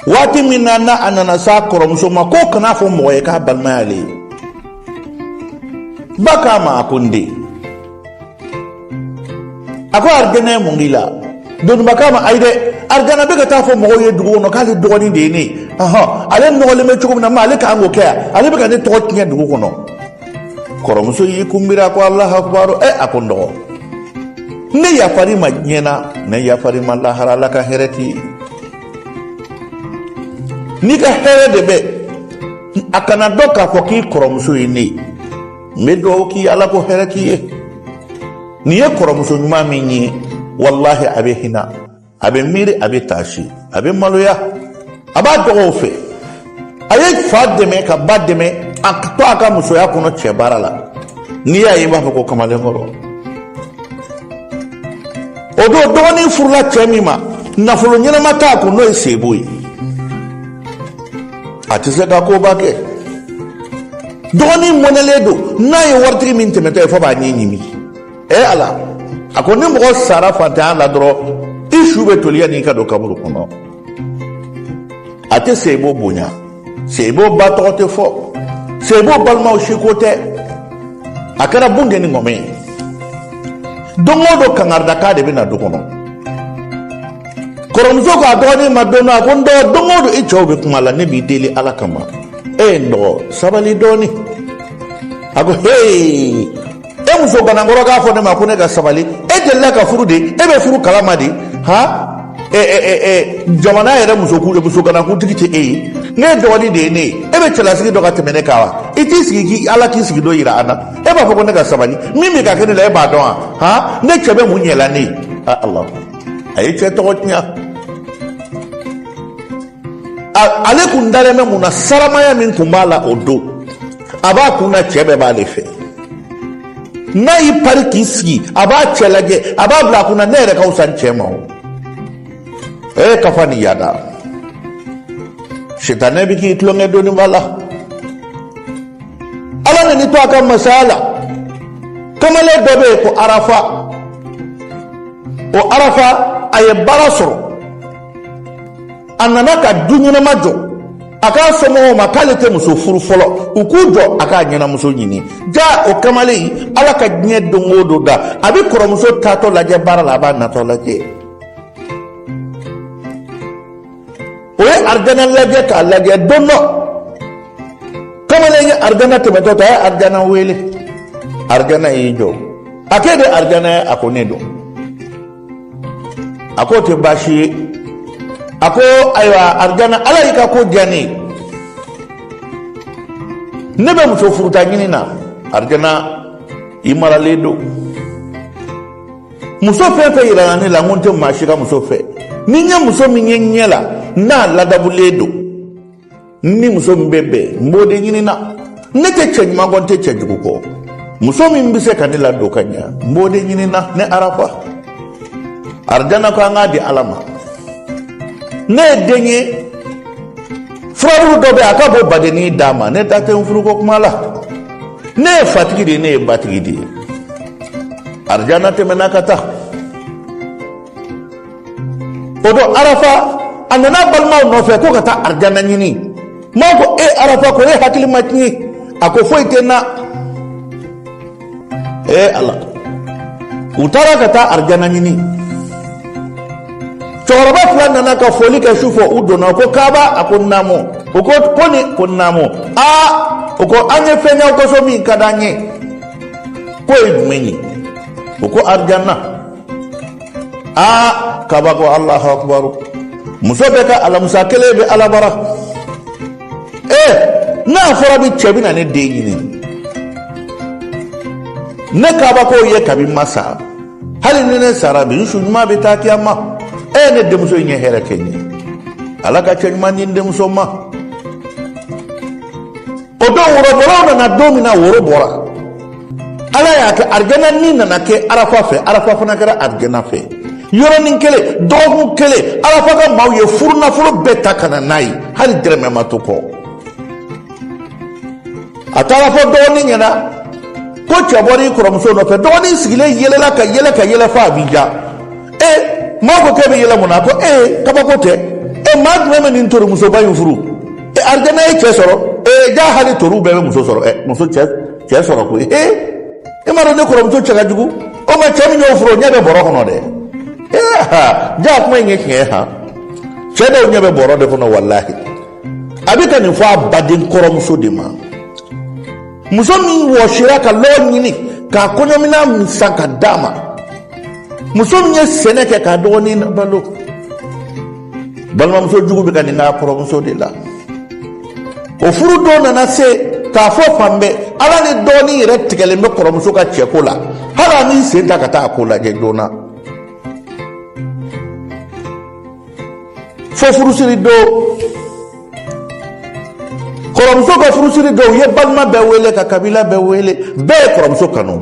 waati min na na a nana s'a kɔrɔmuso ma k'o kana fɔ mɔgɔ ye k'a balima y'ale ye ba k'a ma a ko n den a ko arijana mun k'i la doniba k'a ma ayi dɛ arijana bɛ ka taa fɔ mɔgɔw ye dugu kɔnɔ k'ale dɔgɔnin de ye ne ye ale nɔgɔlen bɛ cogo min na ma ale k'an k'o kɛ yan ale bɛ ka ne tɔgɔ tiɲɛ dugu kɔnɔ kɔrɔmuso y'i kunbiri a ko alahu akubaru ɛ a ko n dɔgɔ ne yafar'i ma diɲɛ na ne yafar'i ma lahara ala ka hɛrɛ t'i ye n'i ka hɛrɛ de bɛ a kana dɔn k'a fɔ k'i kɔrɔmuso ye ne ye n bɛ dugawu k'i ye ala k'o hɛrɛ t'i ye nin ye kɔrɔmuso ɲuman min ye walahi a bɛ hinɛ a bɛ miiri a bɛ taasi a bɛ maloya a b'a dɔgɔw fɛ a ye fa dɛmɛ ka ba dɛmɛ a to a ka musoya kɔnɔ cɛ baara la n'i y'a ye i b'a fɔ ko kamalenkɔrɔ o don dɔgɔnin furula cɛ min ma nafolo ɲɛnama t'a kun n'o ye seyibu ye a tɛ se ka koba kɛ dɔgɔnin mɔnɛlen don n'a ye waritigi min tɛmɛtɔ ye fo a b'a ɲin ɲimi ee ala a ko ni mɔgɔ sara fantanya la dɔrɔn i su bɛ toli yanni i ka don kaburu kɔnɔ a tɛ seyibu bonya seyibu ba tɔgɔ tɛ fɔ seyibu balimaw si ko tɛ a kɛra bunteni ŋɔmɛ ye don o don kangaridaka de bɛ na du kɔnɔ kɔrɔmuso k'a dɔgɔnin ma don dɔ a ko n dɔgɔ don o don i cɛ o bɛ kuma la ne b'i deli ala kama e ye n dɔgɔ sabali dɔɔnin a ko hee e muso ganankɔrɔ k'a fɔ ne ma ko ne ka sabali e delila ka furu de e bɛ furu kalama de han jamana yɛrɛ muso muso ganankuntigi tɛ e ye ni dɔgɔnin de ye ne ye e bɛ cɛlasigi dɔn ka tɛmɛ ne kan wa i t'i sigi k'i ala k'i sigi dɔ yira an na e b'a fɔ ko ne ka sabali min bɛ ka kɛ ne la e b'a dɔn wa han ne cɛ bɛ mun ɲɛla ne ye a ala a ye cɛ tɔgɔ tiɲɛ ale kun dalen bɛ mun na saramaya min tun b'a la o don a b'a kun na cɛ bɛɛ b'ale fɛ n'a y'i pari k'i sigi a b'a cɛ lajɛ a b'a bila a kun na ne yɛrɛ ka wusa nin cɛ ma o ee kafa ni yada sitanɛ bɛ k'i tulonkɛ dɔɔni b'a la ala nana i to a ka masaya la kamalen dɔ bɛ yen ko arafa o arafa a ye baara sɔrɔ a nana ka du ɲɛnama jɔ a k'a somɔgɔw ma k'ale tɛ muso furu fɔlɔ u k'u jɔ a k'a ɲɛnamuso ɲini jaa o kamalen ala ka diɲɛ don o don da a bɛ kɔrɔmuso taatɔ lajɛ baara la a b'a natɔ lajɛ o ye arijana lajɛ k'a lajɛ don dɔ kamalen ye arijana tɛmɛtɔ ta a ye arijana wele arijana y'i jɔ a k'e de arijana ye a ko ne don a k'o tɛ baasi ye a ko ayiwa arijana ala y'i ka ko diya ne ye ne bɛ muso furuta ɲini na arijana i maralen don muso fɛn fɛn yirala ne la n ko n tɛ maa si ka muso fɛ ni n ye muso min ye n ɲɛ la n'a ladabulen don n ni muso min bɛ bɛn n b'o de ɲini na ne tɛ cɛ ɲuman kɔ n tɛ cɛ jugu kɔ muso min bɛ se ka ne ladon ka ɲɛ n b'o de ɲini na ne arafa arijana ko an k'a di ala ma ne ye den ye furabulu dɔ bɛ a ka bɔ badenni d'a ma ne da tɛ n furuko kuma la ne ye fatigi de ye ne ye batigi de ye arijana tɛmɛna ka taa o don arafa a nana balimaw nɔfɛ ko ka taa arijana ɲini maaw ko e arafa ko e hakili ma tiɲɛ a ko foyi tɛ n na ee ala u taara ka taa arijana ɲini cɛkɔrɔba fila nana ka foli kɛ su fɛ u donna ko kaba a ko naamu u ko koni ko naamu aa u ko an ye fɛn y'aw ka so min ka d'an ye k'o ye jumɛn ye u ko arijana aa kaba ko alahu akubaru muso bɛɛ ka alamusa kelen bɛ ala bara ee n'a fɔra bi cɛ bɛ na ne den ɲini ne kaba k'o ye kabi n ma sa hali ni ne sara bi n su ɲuman bɛ taa kiyama e ne denmuso in ye hɛrɛ kɛ n ye ala ka cɛ ɲuman di n denmuso ma o don worobɔlaw nana don min na woro bɔra ala y'a kɛ arijana ni nana kɛ arafa fɛ arafa fana kɛra arijana fɛ yɔrɔnin kelen dɔgɔkun kelen arafa ka maaw ye furunafolo bɛɛ ta ka na n'a ye hali dɛrɛmɛ ma to kɔ a taara fɔ dɔgɔnin ɲɛna ko cɛ bɔra i kɔrɔmuso nɔfɛ dɔgɔnin sigilen yɛlɛla ka yɛlɛ ka yɛlɛ f'a b'i ja ee maaw ko k'e bɛ yɛlɛ mun na ko ee kabako tɛ e maa jumɛn bɛ nin torimusoba in furu e arijana ye cɛ sɔrɔ ee jaa hali toriw bɛɛ bɛ muso sɔrɔ ɛ muso cɛ cɛ sɔrɔ koyi ee e m'a dɔn ne kɔrɔmuso cɛ ka jugu o ma cɛ min y'o furu o ɲɛ bɛ bɔrɔ kɔnɔ dɛ ee jaa kuma in ye tiɲɛ ye han cɛ dɔw ɲɛ bɛ bɔrɔ de kɔnɔ walahi a bɛ ka nin fɔ a baden kɔrɔmuso de ma muso min wɔsira ka lɔgɔ ɲini k'a kɔɲɔminan san ka d'a ma muso min ye sɛnɛ kɛ k'a dɔgɔnin balo balimamuso jugu bɛ ka nin k'a kɔrɔmuso de la o furudon nana se k'a fɔ fan bɛɛ ala ni dɔgɔnin yɛrɛ tigɛlen bɛ kɔrɔmuso ka cɛko la hali a m'i sen ta ka taa a ko lajɛ joona fo furusiri don kɔrɔmuso ka furusiri don u ye balima bɛɛ wele ka kabila bɛɛ wele bɛɛ ye kɔrɔmuso kanu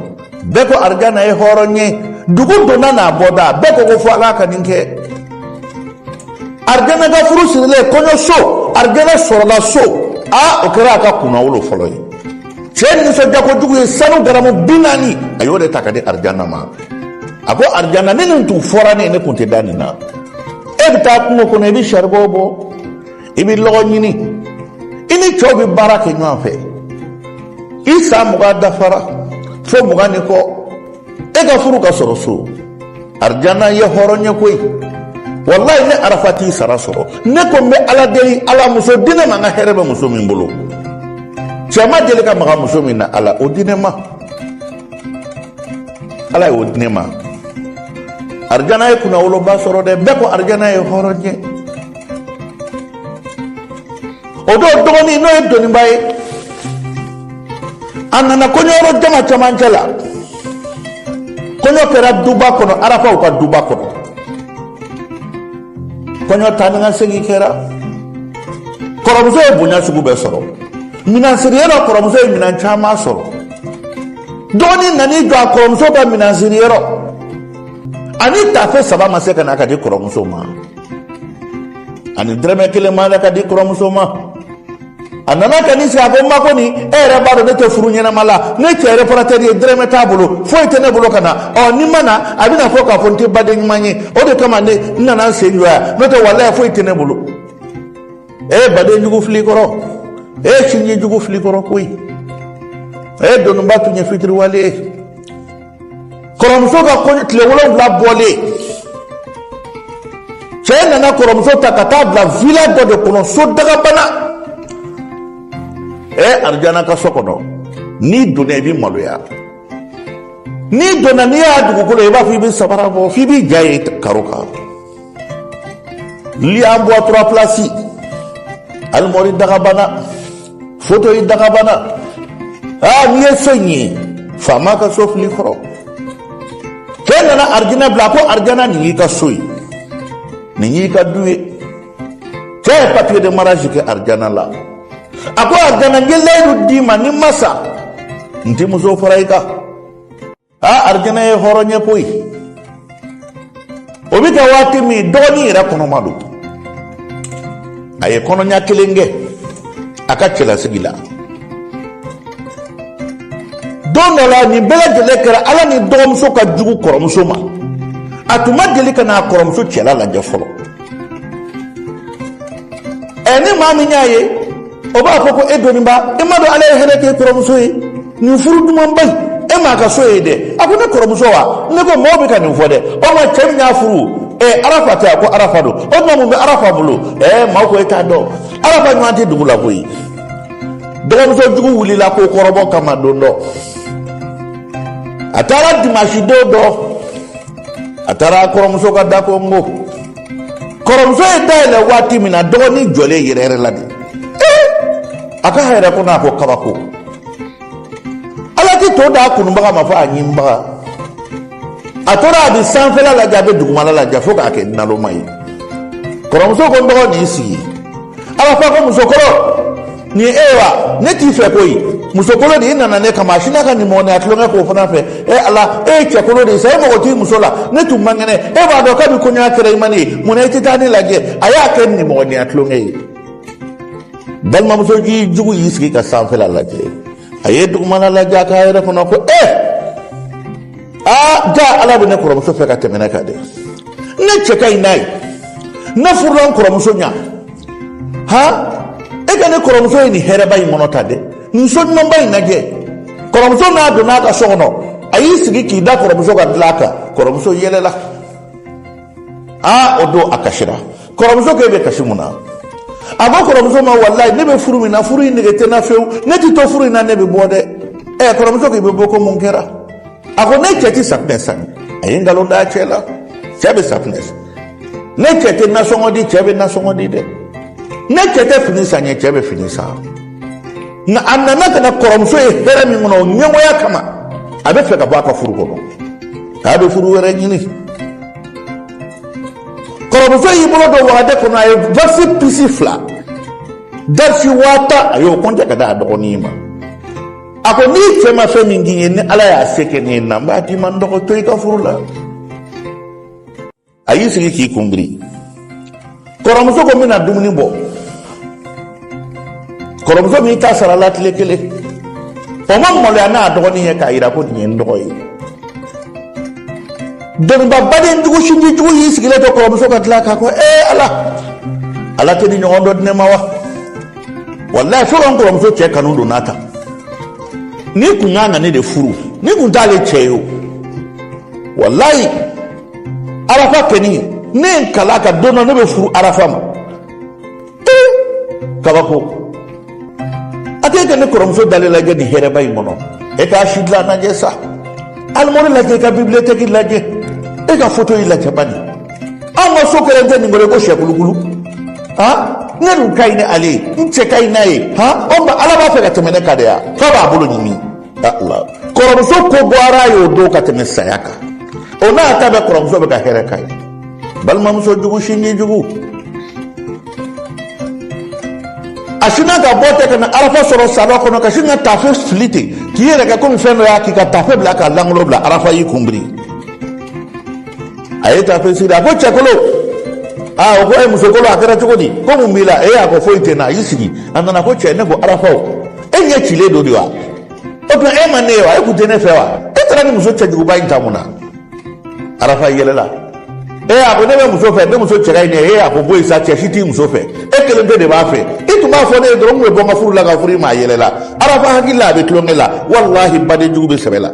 bɛɛ ko arijana ye hɔrɔn ye dugu donna n'a bɔda bɛɛ ko ko fo ala ka nin kɛ arijana ka furu sirilen kɔɲɔso arijana sɔrɔla so a o kɛra a ka kunnawolo fɔlɔ ye cɛ nisɔndiya kojugu ye sanu garamu bi naani a y'o de ta ka di arijana ma a ko arijana ni nin tun fɔra ne ye ne tun tɛ da nin na e bɛ taa kungo kɔnɔ i bɛ saribɔn bɔ i bɛ lɔgɔ ɲini i ni cɛw bɛ baara kɛ ɲɔgɔn fɛ i san mugan dafara fo mugan ni kɔ e ka furu ka sɔrɔ so arijana ye hɔrɔn ye koyi walayi ne arafa t'i sara sɔrɔ ne ko n bɛ ala deli ala muso di ne ma n ka hɛrɛ bɛ muso min bolo cɛ ma deli ka maga muso min na ala o di ne ma ala y'o di ne ma arijana ye kunnawoloba sɔrɔ dɛ bɛɛ ko arijana ye hɔrɔn ye o don dɔgɔnin n'o ye dɔnniba ye a nana kɔɲɔyɔrɔ jama camancɛ la kɔɲɔ kɛra duba kɔnɔ arafaw ka duba kɔnɔ kɔɲɔ taa ni ka segin kɛra kɔrɔmuso ye bonya sugu bɛɛ sɔrɔ minan siriyɔrɔ kɔrɔmuso ye minan caman sɔrɔ dɔgɔnin nan'i jɔ a kɔrɔmuso ka minan siriyɔrɔ hali tafe saba ma se ka na ka di kɔrɔmuso ma hali dɛrɛmɛ kelen ma na ka di kɔrɔmuso ma a nana ka n'i sigi a ko n ma ko nin e yɛrɛ b'a dɔn ne tɛ furu ɲɛnama la ne cɛ yɛrɛ fana tɛ ye dɛrɛmɛ t'a bolo foyi tɛ ne bolo ka na ɔ ni n ma na a bɛna fɔ k'a fɔ n tɛ baden ɲuman ye o de kama ne n nana n sen jɔ yan n'o tɛ walayi foyi tɛ ne bolo e ye baden jugu fili kɔrɔ e ye sinji jugu fili kɔrɔ koyi e ye dɔnniba tun ye fitiriwale ye kɔrɔmuso ka kɔɲɔ tile wolonwula bɔlen cɛ nana kɔrɔmuso ta ka taa bila vila dɔ de kɔnɔ so dagabana ɛ arijana ka so kɔnɔ n'i donna i bɛ maloya n'i donna n'i y'a dugukolo i b'a fɔ i bɛ sabara bɔ f'i b'i ja ye karo kan lit en bois trois places alimɔri dagabana fauteuil dagabana aa n'i ye so in ye faama ka so fili kɔrɔ cɛ nana arijana bila a ko arijana nin y'i ka so ye nin y'i ka du ye cɛ ye papier de mariage kɛ arijana la a ko arijana n ye layidu d'i ma ni n ma sa n tɛ muso fara i kan a arijana ye hɔrɔn ye koyi o bɛ kɛ waati min dɔgɔnin yɛrɛ kɔnɔma don a ye kɔnɔɲa kelen kɛ a ka cɛlasigi la don dɔ la nin bɛɛ lajɛlen kɛra ala ni dɔgɔmuso ka jugu kɔrɔmuso ma a tun ma deli ka na a kɔrɔmuso cɛla lajɛ fɔlɔ ɛ ni maa min y'a ye o b'a fɔ ko e dɔnniba e m'a dɔn ala ye hɛrɛ k'e kɔrɔmuso ye nin furu dumanba in e m'a ka so ye dɛ a ko ne kɔrɔmuso wa ne ko maaw bɛ ka nin fɔ dɛ o ma cɛ min y'a furu ɛ arafa tɛ a ko arafa don o tuma mun bɛ arafa bolo ɛ maaw ko e t'a dɔn arafa ɲɔgɔn tɛ dugu la koyi dɔgɔmuso jugu wulila ko kɔrɔbɔ kama don dɔ a taara dimansi don dɔ a taara kɔrɔmuso ka da konko kɔrɔmuso ye da yɛlɛ waati min na dɔgɔnin jɔlen yɛrɛyɛrɛla de a k'a yɛrɛ kɔnɔ a ko kabako ala tɛ to d'a kunubaga ma fo a ɲimibaga a tora a bɛ sanfɛla lajɛ a bɛ dugumala lajɛ fo k'a kɛ naloma ye kɔrɔmuso ko n dɔgɔ n'i sigi arafa ko musokolo nin e wa ne t'i fɛ koyi musokolo de i nana ne kama a sinna ka nimɔgɔniya tulonkɛ k'o fana fɛ e ala e ye cɛkolo de ye sa e mago t'i muso la ne tun man kɛnɛ e b'a dɔn kabi kɔɲɔya kɛra i ma ne ye mun na i tɛ taa ne lajɛ a y'a kɛ nimɔgɔniya tulonkɛ ye balimamuso jugu y'i sigi ka sanfɛla lajɛ a ye dugumala lajɛ a k'a yɛrɛ kɔnɔ ko e aa jaa ala bɛ ne kɔrɔmuso fɛ ka tɛmɛ ne kan dɛ ne cɛ ka ɲi n'a ye ne furula n kɔrɔmuso ɲa han e ka ne kɔrɔmuso ye nin hɛrɛba in kɔnɔ tan dɛ nin so ɲumanba in lajɛ kɔrɔmuso n'a donna a ka so kɔnɔ a y'i sigi k'i da kɔrɔmuso ka dilan kan kɔrɔmuso yɛlɛla aa o don a kasira kɔrɔmuso ko e bɛ kasi mun na a ko kɔrɔmuso ma walayi ne bɛ furu min na furu in nege tɛ n na fewu ne tɛ to furu in na ne bɛ bɔ dɛ ɛ kɔrɔmuso ko i bɛ bɔ ko mun kɛra a ko ne cɛ tɛ safunɛ san a ye nkalon d'a cɛ la cɛ bɛ safunɛ san ne cɛ tɛ nasɔngɔ di cɛ bɛ nasɔngɔ di dɛ ne cɛ tɛ fini san n ye cɛ bɛ fini san nka a nana ka na kɔrɔmuso ye hɛrɛ min kɔnɔ o ɲɛngoya kama a bɛ fɛ ka bɔ a ka furu kɔnɔ k'a bɛ furu wɛrɛ ɲini kɔrɔmuso y'i bolo don wagande kɔnɔ a ye waksi pisi fila dalasi waa tan a y'o kɔnte k'a d'a dɔgɔnin ma a ko n'i cɛ ma fɛn min k'i ye ni ala y'a se kɛ ne na n b'a d'i ma n dɔgɔ to i ka furu la a y'i sigi k'i kun biri kɔrɔmuso ko n bɛna dumuni bɔ kɔrɔmuso min ta sara la tile kelen o ma maloya n'a dɔgɔnin ye k'a jira ko nin ye n dɔgɔ ye dɔnniba baden jugu sinji jugu y'i sigilen to kɔrɔmuso ka tila k'a ko ee ala ala tɛ nin ɲɔgɔn dɔ di ne ma wa walayi fo ka n kɔrɔmuso cɛ kanu don n'a ta nin kun ka kan ka ne de furu nin kun t'ale cɛ ye o walayi arafa kɛni ne ye n kal'a kan don dɔ ne bɛ furu arafa ma ee kabako a tɛ kɛ ne kɔrɔmuso dalen lajɛ nin hɛrɛba in kɔnɔ e k'a sidilan lajɛ sa alimɔri lajɛ i ka bibiliyotɛki lajɛ e ka fotoyi lajɛ bani an ka so kɛlen tɛ nin kɔrɔ ko sɛkulukulu han ne dun ka ɲi ni ale ye n cɛ ka ɲi n'a ye han o tuma ala b'a fɛ ka tɛmɛ ne kan de ya k'a b'a bolo ɲimi kɔrɔmuso ko goyara a y'o don ka tɛmɛ saya kan o n'a ta bɛɛ kɔrɔmuso bɛ ka hɛrɛ k'a ye balimamuso jugu sinji jugu a sinna ka bɔ ten ka na arafa sɔrɔ salon kɔnɔ ka sin ka tafe fili ten k'i yɛrɛ kɛ komi fɛn dɔ y'a kin ka tafe bila k'a lankolon bila arafa y'i kun biri a ye tafe siri a ko cɛkolon aa o ko e musokolon a kɛra cogo di ko mun b'i la e a ko foyi tɛ n na a y'i sigi a nana ko cɛ ne ko arafa e ɲɛ cilen don de wa o tuma e ma ne ye wa e kun tɛ ne fɛ wa e taara nin muso cɛjuguba in ta mun na arafa yɛlɛla e a ko ne bɛ muso fɛ ne muso cɛ ka ɲi ne ye e a ko bɔ yen sa cɛ si t'i muso fɛ e kelen pe de b'a fɛ i tun b'a fɔ ne ye dɔrɔn n tun bɛ bɔ n ka furu la ka furu i ma a yɛlɛla arafa hakili la a bɛ tulonkɛ la walahi badenjugu bɛ sɛbɛ la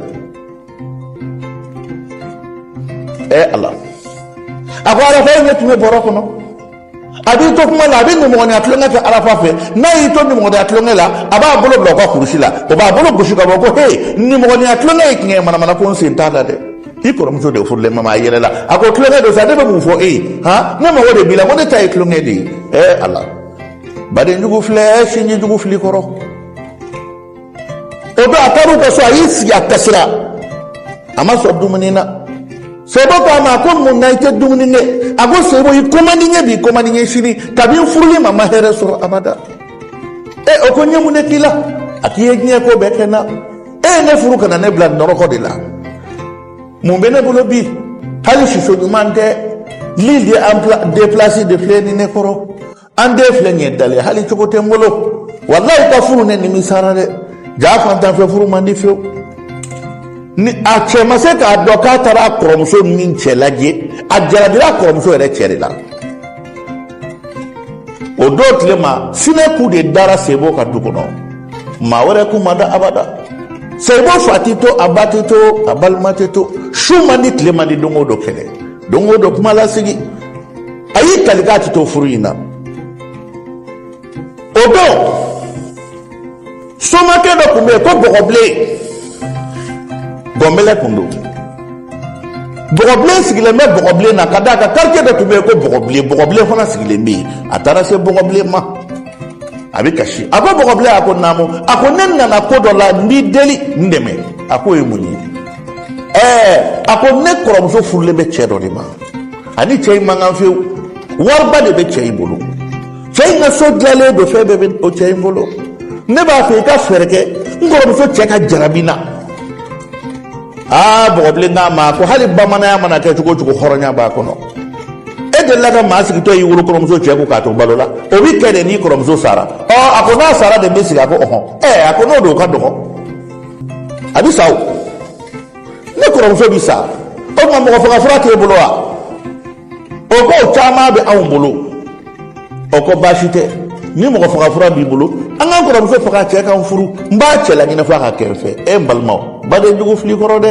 ɛ ala a ko arafa ye ne tun bɛ bɔrɔ kɔnɔ a b'i to kuma la a bɛ nimɔgɔniya tulonkɛ kɛ arafa fɛ n'a y'i to nimɔgɔniya tulonkɛ la a b'a bolo bila o ka kurusi la o b'a bolo gosi ka bɔ ko he nimɔgɔniya tulonkɛ ye tiɲɛ ye manamana ko n sen t'a la dɛ i kɔrɔmuso de furulen bɛ n ma a yɛlɛla a ko tulonkɛ don sa ne bɛ mun fɔ e ye han ne mago de b'i la ko ne ta ye tulonkɛ de ye ɛ ala badenjugu filɛ sinjijugu filɛ kɔrɔ o don a taar'u ka so a y'i sigi a kasira a ma sɔn dumuni na sebo ko a ma a ko mun na i tɛ dumuni kɛ a ko sebo i ko man di n ye bi i ko man di n ye sini kabini n furul'i ma n ma hɛrɛ sɔrɔ abada e o ko n ye mun de k'i la a k'i ye diɲɛ ko bɛɛ kɛ n na e ye ne furu ka na ne bila nɔrɔkɔ de la mun bɛ ne bolo bi hali siso ɲuman tɛ lili de an deplasi de filɛ nin ne kɔrɔ an den filɛ nin ye dalen hali cogo tɛ n bolo walayi ka furu ne nimisara dɛ jaa fantanfɛ furu man di fewu ni a cɛ ma se k'a dɔn k'a taara a kɔrɔmuso min cɛ lajɛ a jarabira a kɔrɔmuso yɛrɛ cɛ de la o don tile ma sinɛ kun de dara sebo ka du kɔnɔ maa wɛrɛ kun ma da abada sebo fa tɛ to a ba tɛ to a balima tɛ to su man di tile man di don o don kɛlɛ don o don kuma lasigi a y'i kali k'a ti to furu in na o don somakɛ dɔ tun bɛ yen ko bɔgɔbilen gɔnbɛlɛ tun don bɔgɔbilen sigilen bɛ bɔgɔbilen na ka d'a kan karitiye dɔ tun bɛ yen ko bɔgɔbilen bɔgɔbilen fana sigilen bɛ yen a taara se bɔgɔbilen ma a bɛ kasi a ko bɔgɔbilen a ko naamu a ko ne nana ko dɔ la n b'i deli n dɛmɛ a ko o ye mun ye ɛɛ a ko ne kɔrɔmuso furulen bɛ cɛ dɔ de ma a ni cɛ in man kan fewu wariba de bɛ cɛ in bolo cɛ in ka so dilalen don fɛn bɛɛ bɛ o cɛ in bolo ne b'a fɛ i ka fɛɛrɛ kɛ n kɔrɔmuso cɛ ka jarabi n na aa bɔgɔbilen k'a ma ko hali bamananya mana kɛ cogo o cogo hɔrɔnya b'a kɔnɔ e delila ka maa sigitɔ y'i wolo kɔrɔmuso cɛ kun k'a to balo la o bɛ kɛ de n'i kɔrɔmuso sara ɔ a ko n'a sara de n bɛ sigi a ko ɔhɔn ɛ a ko n'o don o ka dɔgɔ a bɛ sa o ne kɔrɔmuso bi sa o tuma mɔgɔ faga fura t'e bolo wa o ko o caman bɛ anw bolo o ko baasi tɛ ni mɔgɔ faga fura b'i bolo an ka n kɔrɔmuso faga cɛ ka n furu n b'a cɛ laɲinɛ f'a ka kɛ n fɛ e n balimaw baden jugu fili kɔrɔ dɛ